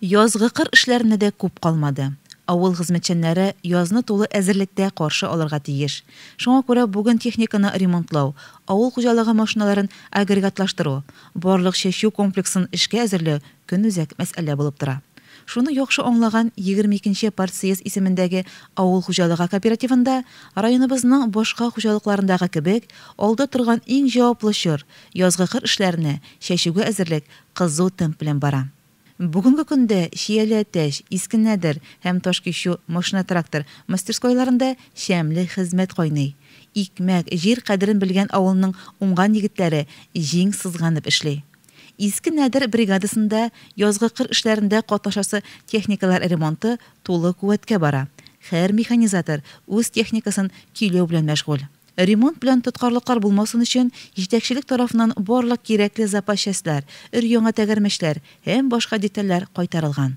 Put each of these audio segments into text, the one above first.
Язгы кыр эшләренә дә күп калмады. Авыл хезмәтчәннәре язны тулы әзерлектә каршы алырга тиеш. Шуңа күрә бүген техниканы ремонтлау, авыл хуҗалыгы машиналарын агрегатлаштыру, барлык чәчү комплексын эшкә әзерләү көнүзәк мәсьәлә булып тора. Шуны яхшы аңлаган егерме икенче партсъезд исемендәге авыл хуҗалыгы кооперативында, районыбызның башка хуҗалыкларындагы кебек, алда торган иң җаваплы чор, язгы кыр эшләренә, чәчүгә әзерлек кызу темп белән бара. Бүгенге көндә Чияле-Әтәч, Иске Нәдер һәм Ташкичү машина-трактор мастерскойларында шәмле хезмәт кайный. Икмәк, җир кадерен белгән авылның уңган егетләре җиң сызганып эшли. Иске Нәдер бригадасында язгы кыр эшләрендә катнашасы техникалар ремонты тулы куәткә бара, һәр механизатор үз техникасын көйләү белән мәшгуль. Ремонт белән тоткарлыклар булмасын өчен, җитәкчелек тарафыннан барлык кирәкле запас частьләр, өр-яңа тәгәрмәчләр һәм башка детальләр кайтарылган.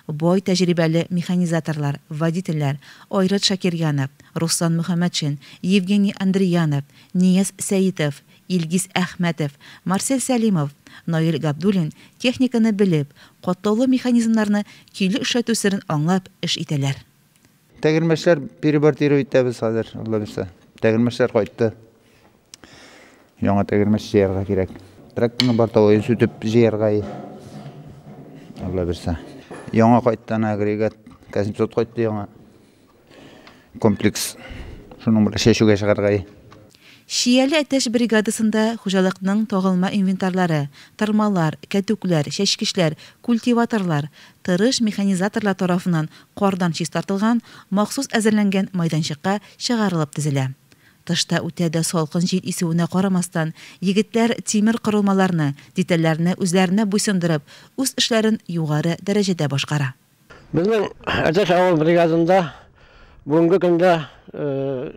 Бай тәҗрибәле механизаторлар, водительләр, Айрат Шакирьянов, Руслан Мөхәммәтшин, Евгений Андреянов, Нияз Сәитов, Илгиз Әхмәтов, Марсель Сәлимов, Наил Габдуллин техниканы белеп, катлаулы механизмнарны көйле эшләтү серен аңлап эш итәләр. Тәгәрмәчләр перебортирую итәбез хәзер, Алла бирсә. Тәгәрмәчләр кайтты. Яңа тәгәрмәч җыярга кирәк. Тракторны бортовой сүтеп җыярга. Алла бирсә. Яңа кайтты ана агрегат. Казимсот кайтты яңа. Комплекс. Шуның белән чәчүгә чыгарга. Чияле әтәч бригадасында хуҗалыкның тагылма инвентарлары, тырмалар, кәтүкләр, чәчкечләр, культиваторлар, тырыш механизаторлар тарафыннан Кардан чистартылган, махсус әзерләнгән майданчыкка чыгарылып тезелә. Тышта үтә дә салкын җил исүенә карамастан, егетләр тимер корылмаларны, детальләрне үзләренә буйсындырып, үз эшләрен югары дәрәҗәдә башкара. Безнең Әтәч авыл бригадында бүгенге көндә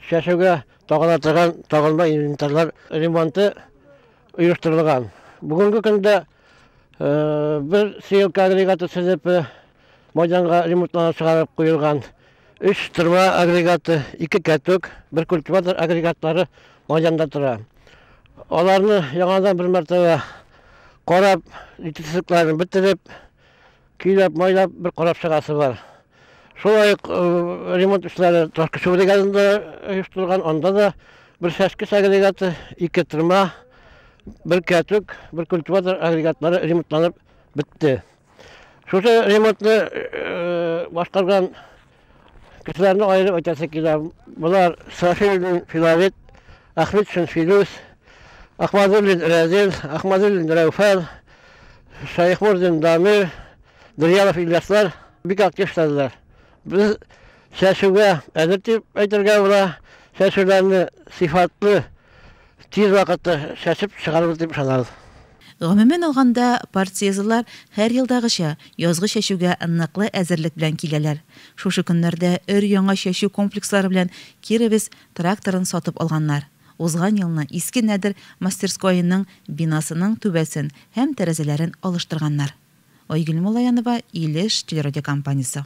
чәчүгә тагыла торган тагылма инвентарьлар ремонты оештырылган. Бүгенге көндә бер сеялка агрегаты сәләпе, Майданга ремонтлана чыгарып куелган өч тырма агрегаты, ике кәтүк, бер культиватор агрегатлары майданда тора. Аларны яңадан бер мәртәбә карап, җитешсезлекләрен бетереп, көйләп, майлап бер карап чыгасы бар. Шулай ук э, ремонт эшләре Ташкышы бригадында оештырылган, анда да бер шәшкеш агрегаты, ике тырма, бер кәтүк, бер культиватор агрегатлары ремонтланып бетте. Шушы ремонтны башкарган кешеләрне аерып әйтәсе килә. Болар Сафилдин Филавит, Ахмедшин Филүс, Ахмадуллин Рәзил, Ахмадуллин Рәүфәл, Шайхмурдин Дамир, Дырьялов Ильяслар бик актив эшләделәр. Без чәчүгә әзер дип әйтергә була. Чәчүләрне сыйфатлы Тиз вакытта чәчеп чыгарбыз дип ышанабыз. Гомумән алганда, партсъездлар һәр елдагыча, язгы чәчүгә ныклы әзерлек белән киләләр. Шушы көннәрдә өр-яңа чәчү комплекслары белән Киребез тракторын сатып алганнар. Узган елны Иске Нәдер мастерскоеның бинасының түбәсен һәм тәрәзәләрен алыштырганнар. Айгөл Муллаянова, Илеш телерадиокомпаниясе.